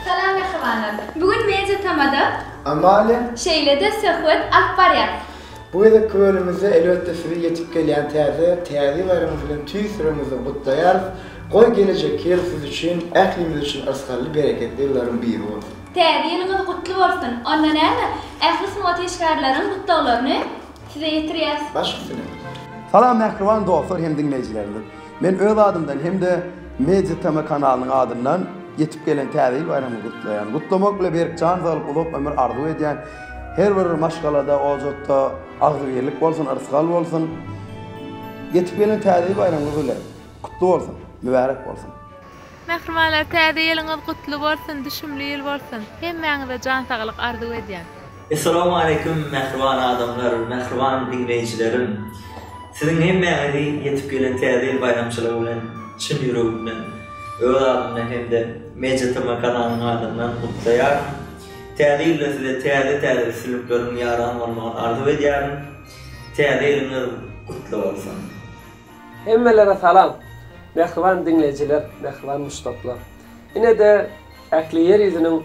Salam mähribanlar! Bu gün Media Tamada. Amalia. Şeýle-de söhbet alyp barýas. Bu gezekki bölümimizde elbetde sizi ýetip gelýän täze Täzýylaryňyz bilen tüýs ýüregimizden gutlaýarys. Goý gelejekki ýyl siz üçin, ählimiz üçin yrsgally, bereketli ýyllaryň biri bolsun. Täze ýylyňyz gutly bolsun! Onda näme, ähli sungat işgärleriň gutlaglaryny. Size ýetirýäs. Baş üstüne. Salam mähriban dostlar hem diňleýjilerimiz. Men öz adymdan hem-de Media TM kanalynyň adyndan ýetip gelen Täze ýyl baýramyny gutlaýan. Gutlamak bilen Berk jan saglyk uzak ömür arzuw edýän. Her bir maşgalada, ojatda agzybirlik bolsun, yrsgal bolsun. Ýetip gelen Täze ýyl baýramyňyz bilen gutly bolsun, mübärek bolsun. Mähribanlar täze ýylyňyz gutly bolsun düşümli ýyl bolsun hemmäňize jan saglyk arzuw edýän. Essalawmaleýkum mähriban adamlar mähriban diňleýjilerim siziň hemmäňizi ýetip gelen täze ýyl baýramçylygy bilen çyn ýüregimden öz adymdan hem-de MediaTm kanalynyň adyndan gutlaýaryn täze ýylda size täze täze üstünlikleriň ýaran bolmagyny arzuw edýärin täze ýylyňyz gutly bolsun. Hemmelere salam! Mähriban diňleýjiler, mähriban muşdaklar! Ine-de ähli ýer ýüzüniň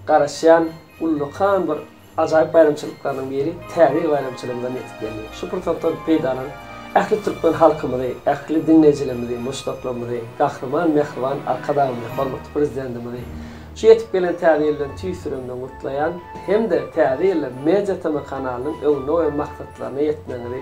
garaşýan ullakan bir ajaýyp baýramçylyklarynyň biri, Täze ýyl baýramçylygymyzam ýetip geldi. Şu pursatdan peýdalanyp, ähli türkmen halkymyzy, ähli diňleýjilerimizi, muşdaklarymyzy, Gahryman Mähriban Arkadagymyzy, hormatly Prezidentimizi şu ýetip gelen Täze ýyl bilen tüýs ýüregimden gutlaýan hem-de Täze ýylda Media TM kanalynyň öňünde goýan maksatlaryna ýetmegiňizi,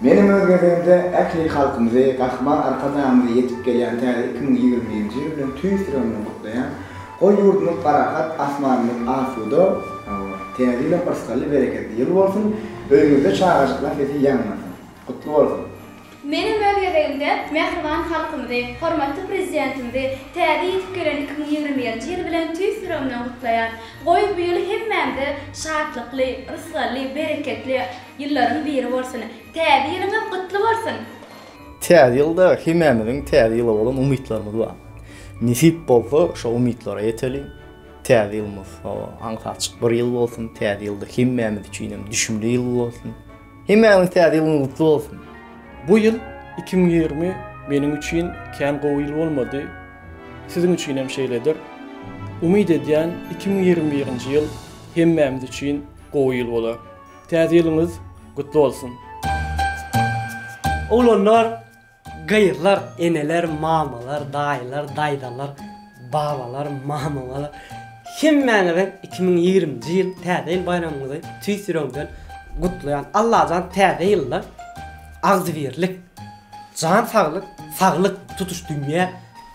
Meniň öz gezegimde ähli halkymyzy, Gahryman Arkadagymyzy ýetip gelýän täze iki müň ýigrimi birinji ýyl bilen tüýs ýüregimden gutlaýan. Goý ýurdumyz parahat, asmanymyz asuda, hawa, Täze ýylam yrsgally, bereketli ýyl bolsun, öýüňizde çagajyklar sesi ýaňlansyn. Gutly bolsun! Meniň öz gezegimde mähriban halkymyzy, hormatly Prezidentimizi täze ýetip gelen iki müň ýigrimi birinji ýyl bilen tüýs ýüregimden gutlaýan. Goý bu ýyl hemmämize şatlykly, yrsgally, bereketli, Ýyllaryň biri bolsun. Täze ýylyňyz gutly bolsun! Täze ýylda hemämiziň täze ýyla bolan umytlarymyz bar. Nesip bolsa şo umytlara ýeteli. Täze ýylymyz hawa aňsat açyk bir ýyl bolsun. Täze ýylda hemmämiz üçin hem düşümli ýyl bolsun. Hemmämiziň täze ýylyňyz gutly bolsun! Bu ýyl iki müň ýigrimi meniň üçin kän gowy ýyl bolmady. Siziň üçin hem şeýledir. Umyt edýän iki müň ýigrimi birinji ýyl hemmämiz üçin gowy ýyl bolar. Täze ýylyňyz gutly bolsun. Oglanlar, gyzlar, eneler, mamalar, daýylar, daýzalar, babalar, mamalar hemmäňize iki müň ýigriminji ýyl Täze ýyl baýramyňyzy tüýs ýüregimden gutlaýan. Allajan Täze ýylda agzybirlik, jan saglyk, saglyk tutuş dünýä